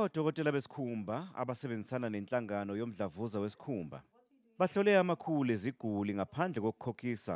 Odokotela besikhumba abasebenzisana nenhlangano yomdlavuza wesikhumba bahlole amakhulu eziguli ngaphandle kokukhokhisa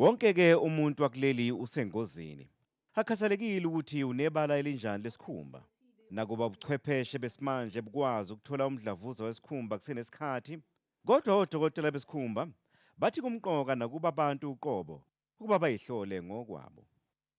Wonke-ke umuntu wakuleli usengozini. Akukhathalekile ukuthi unebala elinjani lesikhumba. Nakuba ubuchwepheshe besimanje bukwazi ukuthola umdlavuza wesikhumba kusenesikhathi, kodwa odokotela besikhumba bathi kumqoka nakuba abantu uqobo ukuba bayihlole ngokwabo.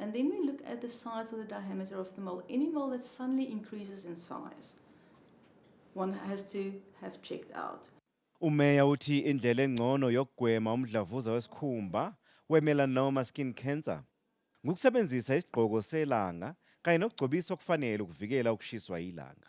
And then we look at the size of the diameter of the mole. Any mole that suddenly increases in size, one has to have checked out. Umeya uthi indlela engcono yokugwema umdlavuza wesikhumba we-melanoma skin cancer ngukusebenzisa isigqoko selanga kanye nokugcobisa okufanele ukuvikela ukushiswa yilanga.